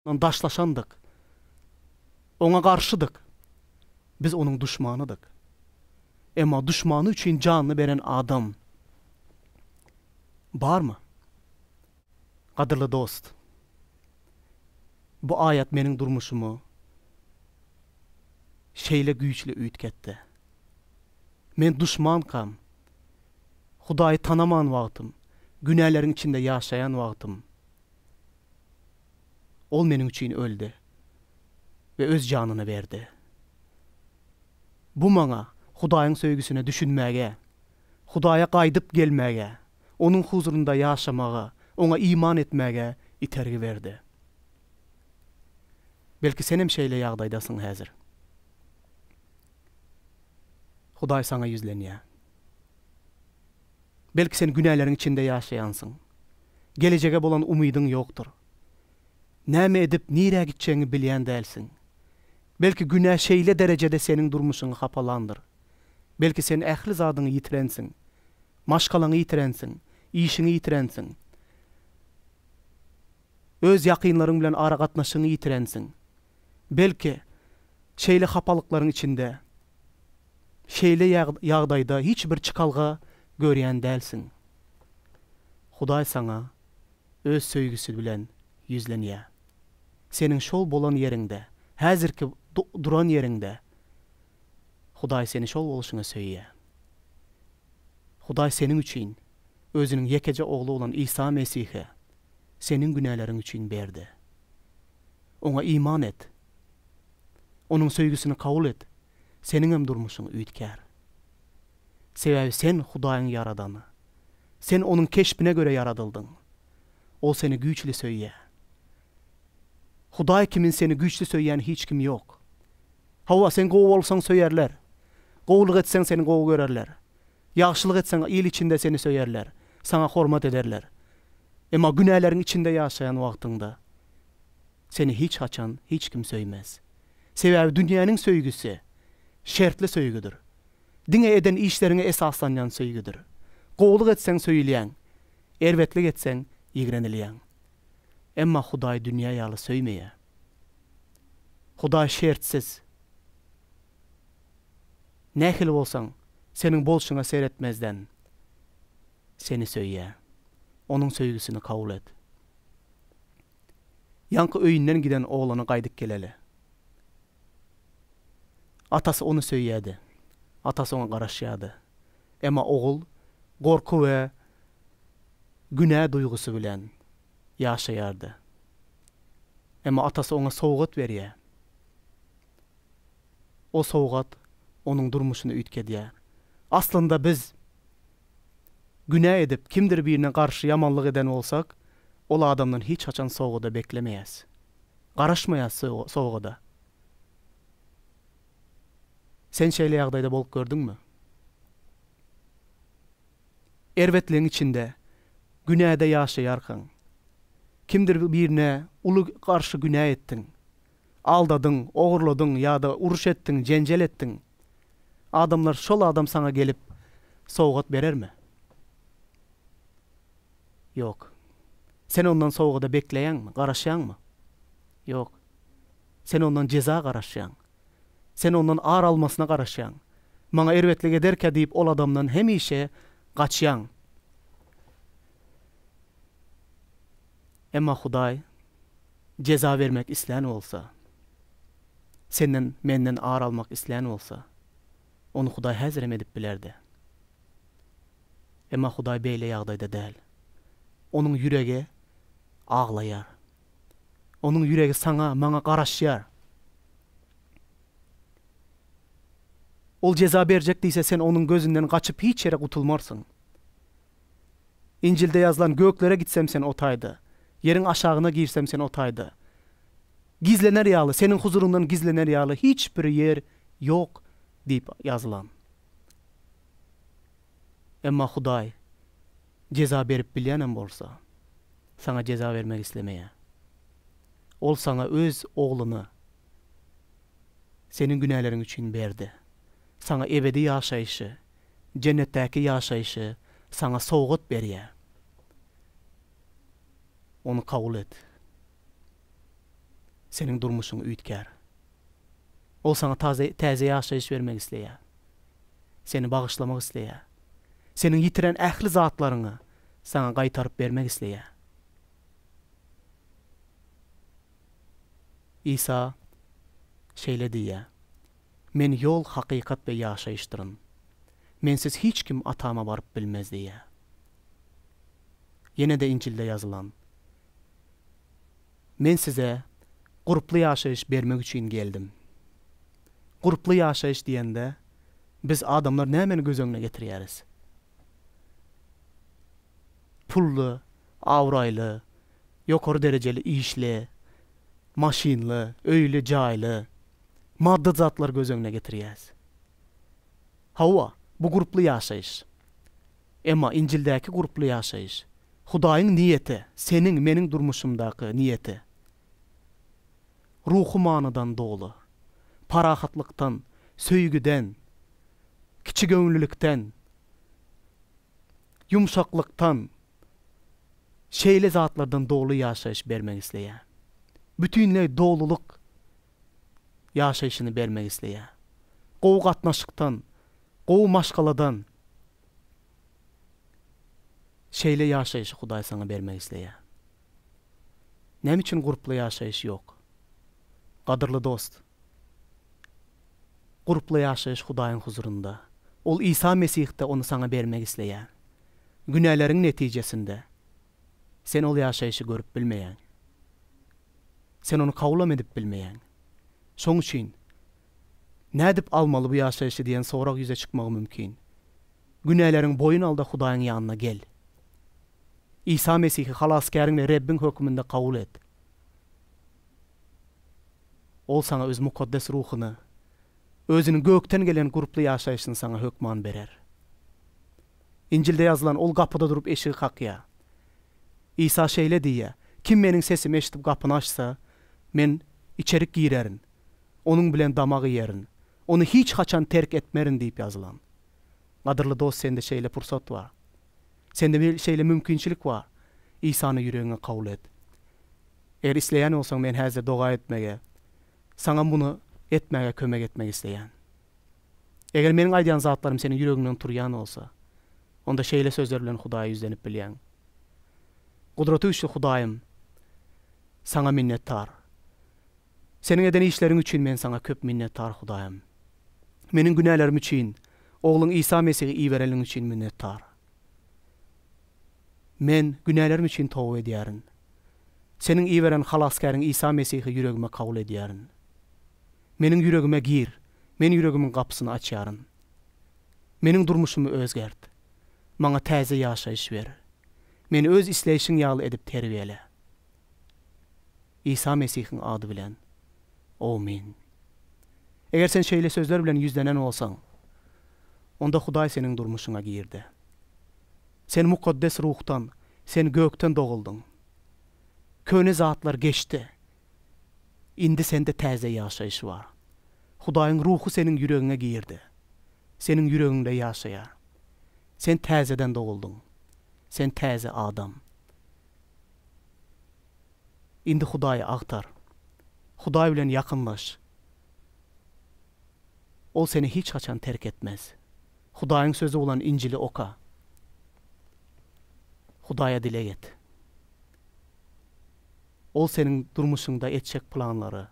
daşlaşandyk, Oňa garşydyk, biz Onuň duşmanydyk. Emma duşmany üçin janyny beren adam barmy? Gadyrly dost, bu aýat meniň durmuşymy şeýle güýçli üýtgetdi. Men duşmankam, Hudaýy tanaman wagtym, günäleriň içinde ýaşaýan wagtym, Ol meniň üçin öldi we öz janyny berdi. Bu maňa Hudaýyň söýgüsine düşünmäge, Hudaýa gaýdyp gelmäge, Onuň huzurynda ýaşamaga, Oňa iman etmäge itergi berdi. Belki senem şeýle ýagdaýdasyň häzir. Hudaý saňa ýüzlenýär. Belki sen günäleriň içinde ýaşaýansyň. Gelejege bolan umydyň ýokdur. Näme edip, nirä gitjegiňi bilýän dälsiň. Belki günä şeýle derejede seniň durmuşyňy hapalandyr. Belki sen ähli zadyňy ýitirensiň. Maşgalaňy ýitirensiň, işiňi ýitirensiň. Öz ýakynlaryň bilen aragatnaşygyňy ýitirensiň. Belki, şeýle hapalyklaryň içinde, şeýle ýagdaýda hiç bir çykalga görýän dälsiň. Hudaý saňa Öz söýgüsi bilen ýüzlenýär. Seniň şol bolan ýeriňde, häzirki duran ýeriňde Hudaý seni şol bolşuňa söýýär. Hudaý seniň üçin Özüniň ýekeje Ogly bolan Isa Mesihi seniň günäleriň üçin berdi. Oňa iman et. Onuň söýgüsini kabul et, seniňem durmuşyň üýtgär. Sebäbi sen Hudaýyň ýaradany. Sen Onuň keşbine görä ýaradyldyň. Ol seni güýçli söýýär. Hudaý kimin seni güýçli söýýän hiç kim ýok. Hawa, sen gowy bolsaň söýerler. Gowulyk etseň seni gowy görerler. Ýagşylyk etseň il içinde seni söýerler, saňa hormat ederler. Emma günäleriň içinde ýaşaýan wagtyňda seni hiç haçan hiç kim söýmez. Sebäbi dünýäniň söýgüsi şertli söýgüdir. Diňe eden işleriňe esaslanýan söýgüdir. Gowulyk etseň söýülýäň, erbetlik etseň ýigrenilýäň. Emma Hudaý dünýä ýaly söýmeýär. Hudaý şertsiz. Nähili bolsaň, seniň bolşuňa seretmezden, seni söýýär. Onuň söýgüsini kabul et. Ýaňky öýünden giden oglany gaýdyp geleli. Atasy ony söýýärdi. Atasy oňa garaşýardy. Emma ogul gorky we günä duýgusy bilen ýaşaýardy. Emma atasy oňa sowgat berýär. O sowgat onuň durmuşyny üýtgedýär. Aslynda biz günä edip, kimdir birine garşy ýamanlyk eden bolsak, ol adamdan hiç haçan sowgada beklemeýäs. Garaşmaýas sowgada. Sen şeýle ýagdaýda bolup gördüňmi? Erbetligiň içinde, günäde ýaşaýarkaň, kimdir birine uly garşy günä etdiň, aldadyň, ogurladyň ýa-da uruş etdiň, jenjel etdiň. Adamlar şol adam saňa gelip sowgat berermi? Ýok. Sen ondan sowgada bekleýäňmi, garaşýaňmy? Ýok. Sen ondan jeza garaşýaň. Sen ondan ar almasyna garaşýaň. Maňa erbetlik ederkä diýip ol adamdan hemişe gaçýaň. Emma Hudaý jeza bermek islän bolsa, senden, menden ar almak islän bolsa, ony Hudaý häzirem edip bilerdi. Emma Hudaý beýle ýagdaýda däl. Onuň ýüregi aglaýar. Onuň ýüregi saňa, maňa garaşýar. Ol jeza berjek diýse, sen onuň gözünden gaçyp hiç ýere gutulmarsyň. Injilde ýazylan, Göklere gitsem, sen o taýda, ýeriň aşagyna girsem, sen o taýda. Gizlener ýaly, seniň huzuryňdan gizlener ýaly hiç bir ýer ýok diýip ýazylan. Emma Hudaý Jeza berip bilýänem bolsa, saňa jeza bermek islemeýär. Ol saňa Öz Ogluny seniň günäleriň üçin berdi. Saňa ebedi ýaşaýşy, Jennetdäki ýaşaýşy saňa sowgat berýär. Ony kabul et. Seniň durmuşyň üýtgär. Ol saňa taze, täze ýaşaýyş bermek isleýär. Seni bagyşlamak isleýär. Seniň ýitiren ähli zatlaryňy saňa gaýtaryp bermek isleýär. Isa şeýle diýýär, Men ýol, hakykat we ýaşaýyşdyryn. Mensiz hiç kim Atama baryp bilmez diýýär. Ýene-de Injilde ýazylan, Men size gurply ýaşaýyş bermek üçin geldim. Gurply ýaşaýyş diýende, biz adamlar nämäni göz öňüne getirýäris? Pully, abraýly, ýokary derejeli işli, maşynly, öýli, jaýly, maddy zatlary göz öňüne getirýäs. Hawa, bu gurply ýaşaýyş. Emma Injildäki gurply ýaşaýyş, Hudaýyň niýeti, seniň, meniň durmuşymdaky niýeti, ruhy manydan doly, parahatlykdan, söýgüden, kiçigöwünlilikden, ýumşaklykdan, şeýle zatlardan doly ýaşaýyş bermegi isleýär. Bütinleý dolulyk ýaşaýşyny bermek isleýär. Gowy gatnaşykdan, gowy maşgaladan şeýle ýaşaýşy Hudaý saňa bermek isleýär. Näme üçin gurply ýaşaýyş ýok? Gadyrly dost, gurply ýaşaýyş Hudaýyň huzurynda, Ol Isa Mesihde ony saňa bermek isleýär. Günäleriň netijesinde. Sen ol ýaşaýşy görüp bilmeýäň. Sen ony kabul-am edip bilmeýäň. Şoň üçin, Nädip almaly bu ýaşaýşy diýen sorag ýüze çykmagy mümkin. Günäleriňi boýun al-da Hudaýyň ýanyna gel. Isa Mesihi Halasgäriň we Rebbiň hökmünde kabul et. Ol saňa Öz mukaddes ruhuny, Özüniň gökden gelen gurply ýaşaýşyny saňa hökman berer. Injilde ýazylan, Ol gapyda durup eşigi kakýar. Isa şeýle diýýär, Kim Meniň sesimi eşidip gapyny açsa, Men içerik girerin, onuň bilen damak iýerin, ony hiç haçan terk etmerin diýip ýazylan. Gadyrly dost sende şeýle pursat bar. Sende şeýle mümkinçilik bar. Isany ýüregiňe kabul et. Eger isleýän bolsaň men häzir doga etmegi, saňa muny etmäge kömek etmek isleýän. Eger meniň aýdýan zatlarym seniň ýüregiňden turýan bolsa, onda şeýle sözler bilen Hudaýa ýüzlenip bilýäň, Gudratygüýçli Hudaýym, Saňa minnetdar! Seniň eden işleriň üçin men Saňa köp minnetdar, Hudaýym! Meniň günälerim üçin Ogluň Isa Mesihi iberenligiň üçin minnetdar! Men günälerim üçin toba edýärin. Seniň iberen Halasgäriň Isa Mesihi ýüregime kabul edýärin. Meniň ýüregime gir, men ýüregimiň gapysyny açýaryn. Meniň durmuşymy özgert. Maňa täze ýaşaýyş ber. Meni öz isleýşiň ýaly edip terbiýele. Isa Mesihiň ady bilen. Owmin. Eger sen şeýle sözler bilen ýüzlenen bolsaň, onda Hudaý seniň durmuşyňa girdi. Sen Mukaddes Ruhdan, sen gökden doguldyň. Köne zatlar geçdi. Indi sende täze ýaşaýyş bar. Hudaýyň Ruhy seniň ýüregiňe girdi. Seniň ýüregiňde ýaşaýar. Sen täzeden doguldyň. Sen täze adam. Indi Hudaýy agtar. Hudaý bilen ýakynlaş. Ol seni hiç haçan terk etmez. Hudaýyň Sözi bolan Injili oka. Hudaýa dileg et. Ol seniň durmuşyňda etjek planlary,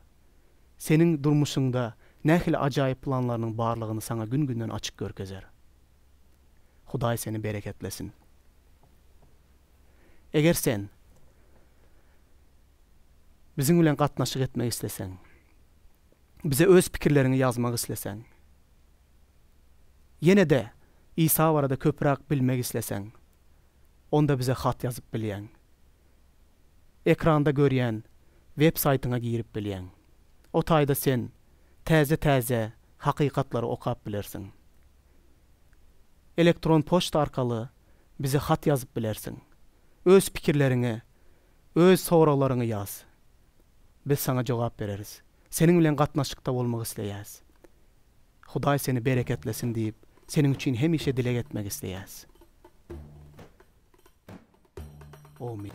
seniň durmuşyňda nähili ajaýyp planlarynyň barlygyny saňa gün-günden açyk görkezer. Hudaý seni bereketlesin. Eger sen biziň bilen gatnaşyk etmek isleseň, bize öz pikirleriňi ýazmak isleseň, ýene-de Isa barada köpräk bilmek isleseň, onda bize hat ýazyp bilýäň. Ekranda görýän web saýtyňa girip bilýäň. O taýda sen täze-täze hakykatlary okap bilersiň. Elektron poçta arkaly bize hat ýazyp bilersiň. Öz pikirleriňi, öz soraglaryňy ýaz. Biz saňa jogap bereris. Seniň bilen gatnaşykda bolmak isleýäs. Hudaý seni bereketlesin diýip, seniň üçin hemişe dileg etmek isleýäs. Omyn.